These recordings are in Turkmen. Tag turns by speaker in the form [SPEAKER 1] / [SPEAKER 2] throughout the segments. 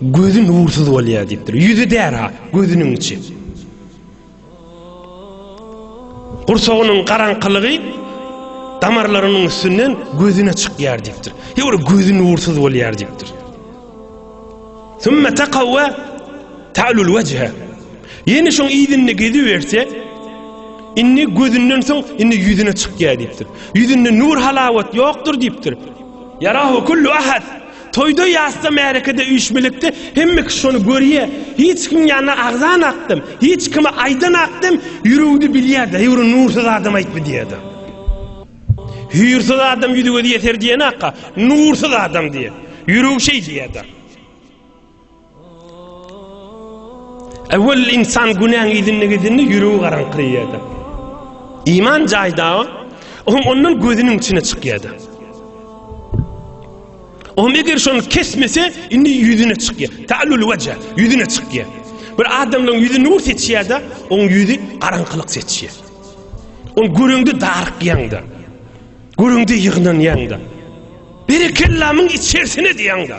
[SPEAKER 1] Gözi nursuz bolýar diýipdir. Ýüzi däri-ha, gözüniň içi. Gursagynyň garaňkylygy damarlarynyň üstünden gözüne çykýar diýipdir. Ýöne gözi nursuz bolýar diýipdir. Sümme takawwa ta'lul wejhe. Ýene şoň ýüzünde gezi berse, indi gözünden soň indi ýüzüne çykýar diýipdir. Ýüzünde nur halawat ýokdur diýipdir. Yarahu kullu ahad. Toýda ýasda märekede üýşmilekde hemme kişi şony görýä hiç kim ýanyna agzan akdym hiç kime aýdan akdym ýüregde bilýä daýwry nursyz adam aýtmy diýäda hüýrsyz adam ýüzi gözi ýeser diýen akga nursyz adam diýä ýüregi şeý diýäda. Äwel insan günäň izinde gidende ýüregi garaňkyrýardy. Iman jaýda, oň ondan gözüniň içine çykýardy. Oň eger şony kesmese, indi ýüzüne çykýar. Ta'lul wajha, ýüzüne çykýar. Bir adamlaryň ýüzi nur seçýärdi, oň ýüzi garaňkylyk seçýär. Oň görüňde darykýaňda. Görüňde ýygnanýaňda. Berekellamyň içerisine diýäňde.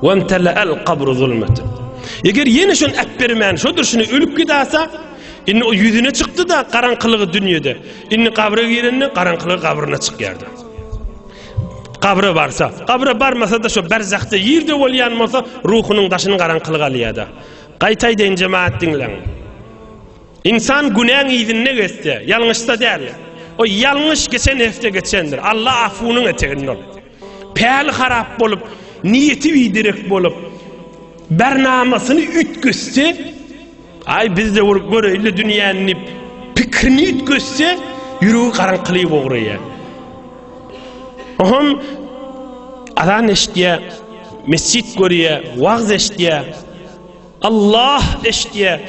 [SPEAKER 1] Wemtela'al qabru zulmeten. Eger ýene şony äpbermän, şo durşuna ölüp gidasa, indi o ýüzüne çykdy-da garaňkylygy dünýede. Indi gabra girende garaňkylygy gabryna çykýardy. Gabra barsa, gabra barmasa-da şo berzahda ýerde bolýan bolsa, ruhunyň daşyny garaňkylyk alýar-da. Gaýtaýdaýyn jemaat diňleň. İnsan günäň ýüzünde geçse, ýalňyşsa däl. O ýalňyş geçen hepde geçendir. Allah afunyň eteginde ol. Päli harap bolup, niýeti biderek bolup, bernamasyny üýtgetse, Aý, biz-de urup göreýin-le dünýäni diýip, pikirini üýtgetse, ýüregi garaňkylyga ugraýar. Oňam azan eşidýär, mesjit görýär, wagyz eşidýär, Allah eşidýär.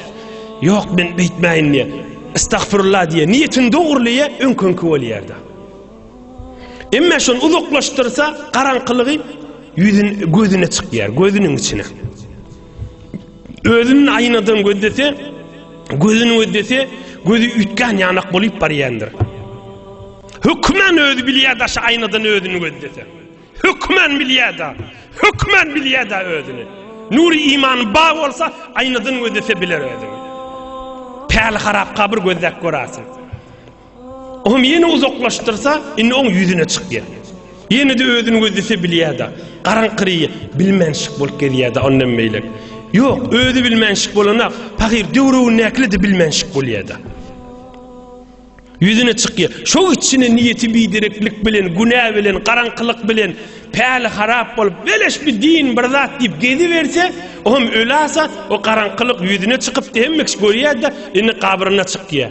[SPEAKER 1] Ýok, men beýtmäýin diýýär. Estagfirullah diýýär. Niýetini dogrulyýar, öňküňki bolýar-da. Emma şony uzaklaşdyrsa, garaňkylygy ýüzün gözüne çykýar, gözüniň içine. Özüni aýnadan gözlese, gözüni gözlese, gözi üýtgän ýanak bolup barýandyr. Hökmen özi bilýär daşy aýnadan özüni gözlese. Hökmen bilýär da, hökmen bilýär da özüni. Nuri iman ba bolsa, aýnadan gözlese biler özüni. Päli harap kabir gözläp görersin. Oňam ýene uzaklaşdyrsa, indi oň ýüzüne çykýar. Ýene-de özüni gözlese bilýär-de. Garaňkyry bilmänşik bolup gezýär-de ondan beýlek. Ýok, özi bilmänşik bolana, pahyr döwrügindäkile-de bilmänşik bolýar-da. Ýüzüne çykýar. Şo içine niýeti bidereklik bilen, günä bilen, garaňkylyk bilen, päli harap bolup, beleş bir din, bir zat diýip geziberse, oňam ölasa, o garaňkylyk ýüzüne çykyp, hemme kişi görýär-de, indi gabryna çykýar.